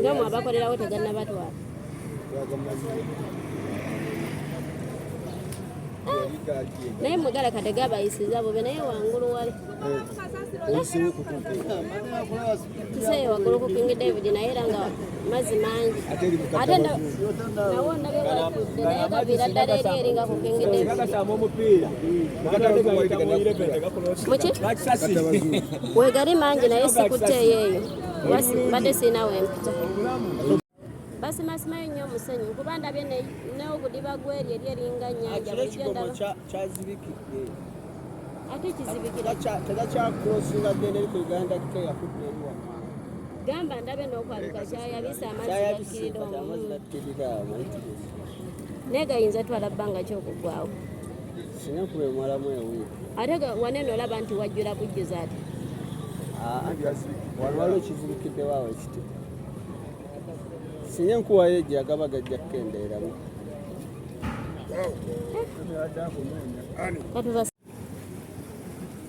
nga mwe abakolerawo tegannabatwala naye mugala kade gabayisiza bube naye wangulu wali kiseye wagulu ku king david naye era nga mazzi mangi ate nawo nabewatudde naye gabira ddala eri eri nga ku king david muki wegari mangi naye sikuteeyo eyo mbadde sirina wempita basimasimaayo nnyo omusenyu kuba ndabye neogudiba gweri eri eringa nyanja ate kizibikirategakyakrosingadenerikugandakeyakudderiwa gamba ndabe nokwaluka kyayabisa amazikiridomu naye gayinza twala bbanga kyokugwawo ate wanene olaba nti wajjula bujjuza ati waliwo kizibikiddewo awo ekiti sinye nkuwayo egyo agaba gajja kukendeeramu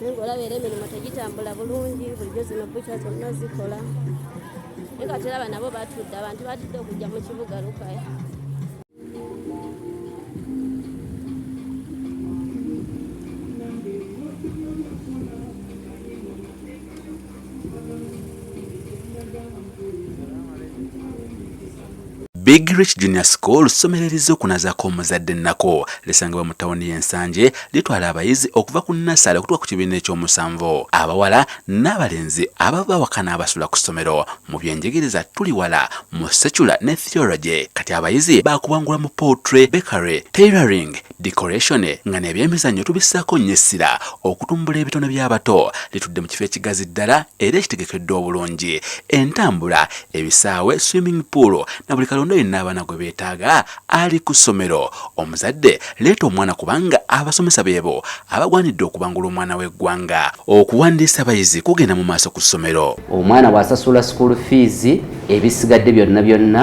naye ngaolaba era emirimu tegitambula bulungi bulijjo zino bukya zonna zikola naye kati olaba nabo batudde abantu batudde okujja mu kibuga lukaya Big Rich Junior School ssomero erizze okunazaako omuzadde ennako lisangibwa mu tawuni y'ensanje litwala abayizi okuva ku nassale okutuka ku kibiina eky'omusanvu abawala n'abalenzi abava awaka n'abasula ku ssomero mu byenjigiriza tuli wala mu secular ne theology kati abayizi baakubangula mu poultry bakery tailoring Decoration nga n'ebyemizannyo tubissaako nnyo essira okutumbula ebitone by'abato litudde mu kifo ekigazi ddala era ekitegekeddwa obulungi entambula ebisaawe swimming pool na buli kalonda yenna abaana gwe beetaaga ali ku ssomero omuzadde leeta omwana kubanga abasomesa beebo abagwanidde okubangula omwana w'eggwanga okuwandiisa abayizi kugenda mu maaso ku ssomero omwana bw'asasula school fees ebisigadde byonna byonna